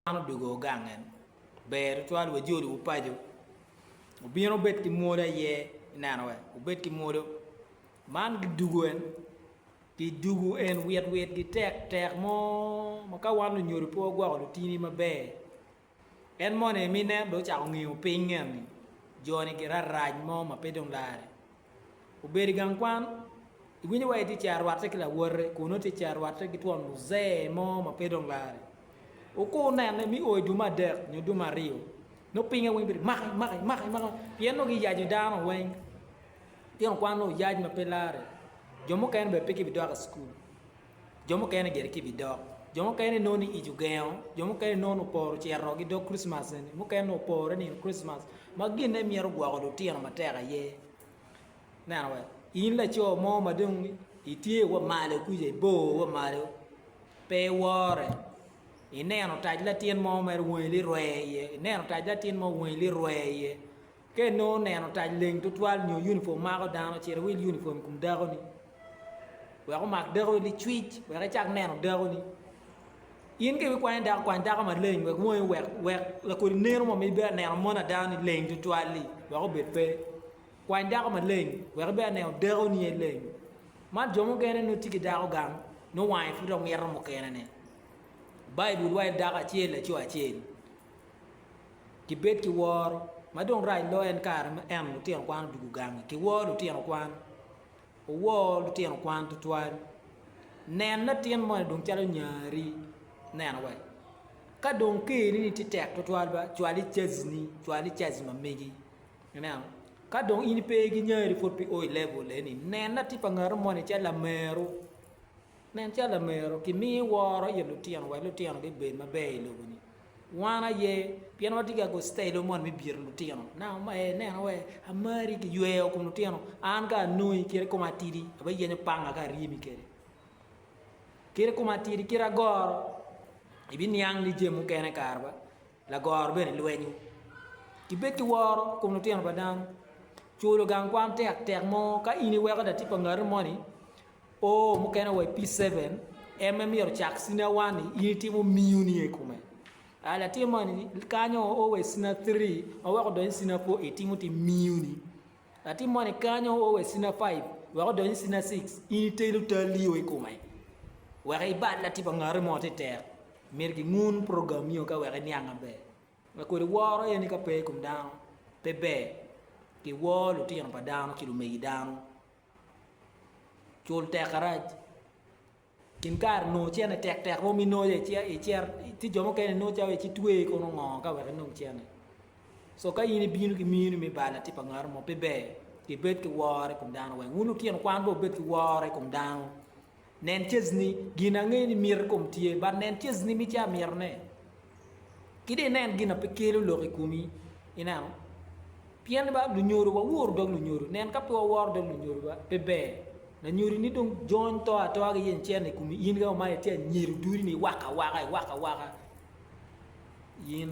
Man odwogo gang en. Ber tutwal wa joli wu paco obino obed ki mwolo aye ineno wa obed ki mwolo man gi dugu en ki dugu en wit wit gi tek tek mo ma ka wan lunyodo pe wagwoko lutini ma ber en moni mi nen do cako ngiyo piny ngeni joni gi rarac mo ma pe dong lare. Obedo i gang kwan, iwinyo wa itye cito rwatte ki lawote kun nongo itye cito rwatte ki twon muzee mo ma pe dong lare. Wukur nene me oo i dume adek nyo dume aryo, nongo pinye weng bedo maki maki maki maki pien nongo giyaco dano weng. Litino kwan nongo oyac ma pe lare, jo mukene bene pe gibidok i cukul. Jo mukene gire ki bidok. Jo mukene nongo ni ic ogengo. Jo mukene nongo ni oporo ocito ki dog Kricmas eni. Mukene nongo opore nino Kricmas. Ma ginne myero gwoko lutino matek aye. Neno wek in laco mo ma dong itye wa malo kuca, ibor wa malo, pe iwore. Ineno otac latin mo mere wangi lirwe iye, ineno otac latin mo wangi lirwe iye. Ka inongo neno tac leng tutwal nyo unifom mako dano, cit iwil unifom i kom dakoni wek omak dakoni licwic wek icak neno dakoni. In ka ikwany dako, kwany dako maleng wek wongi wek wek lakodi neno mo ma ibedo neno mon ada ni leng tutwal-li wek obed pe. Kwany dako maleng wek ibedo neno dakoni aye leng. Man jo mukene nongo tye ki dako gang nongo wange pud omito mukenene. Baibul waco ni dako acel laco acel. Gibed ki woro. Ma dong rac loyo en kare ma en, lutino kwan odwogo gangi. Kiwor lutino kwan. Owor lutino kwan tutwal. Nen latin moni dong calo nyari. Neno wa. Ka dong keri ni tye tek tutwal ba, cwal i caji ni, cwal i caji ma megi. Ineno? Ka dong in pe ki nyari pud pi o i level eni, nen latin pa ngatu moni calo lameru. Nen calo lamero kimiyo woro i lutino wek lutino bibed maber i lobo-ni. Wan aye pien watye ki agostelo mot me byero lutino. Nanga omaye nena wee amari kiyweyo kom lutino. An ka anongi kite koma atidi, abiyenyo panga ka aryemi kwede. Kite koma atidi, kite agoro, ibiniang ni jami mukene kare ba lagoro bene lwenyo. Kibed ki woro kom lutino pa dano. Culo gang kwan tek tek mo ka in iweko latin pa ngati moni O mukene wa i P7, en me myero cak sina one-ni in itimo miyo niye i kome. A latin moni kanyo o wa i sina three ma wek odony i sina four itimo ti miyo ni. Latin moni kanyo o wa i sina five wek odony i sina six in itelo talli o i kome. Wek ibal latin pa ngati mo ti tek. Myero ki ngun program nio ka wek iniang maber. Ma kodi woro en ni ka pe i kom dano pe ber ki wor lutino pa dano ki lumegi dano. Cul tek arac. Kin kare nongo cene tek tek romo inoyo i cere, ti jo mukene inongo calo ici twe kono ngo ka wek inong cene. So ka in ibino ki minu me bal ati pa ngaro mo pe ber ki bed ki woro i kom dano weng. Wun lutino kwan be wubed ki woro i kom dano. Nen cecni, gin angeyo ni miti kom tye, but nen cecni me ci amito ne. Ki dong inen gin a pe kelo lok i komi, ineno. Pien ba lunyodo wa woro dog lunyodo, nen ka pe wa woro dog lunyodo ba pe ber. Lanyodo ni dong jony to atoa ki yen cen i komi in ka omayo tye anyero duri ni iwaka waka iwaka waka in.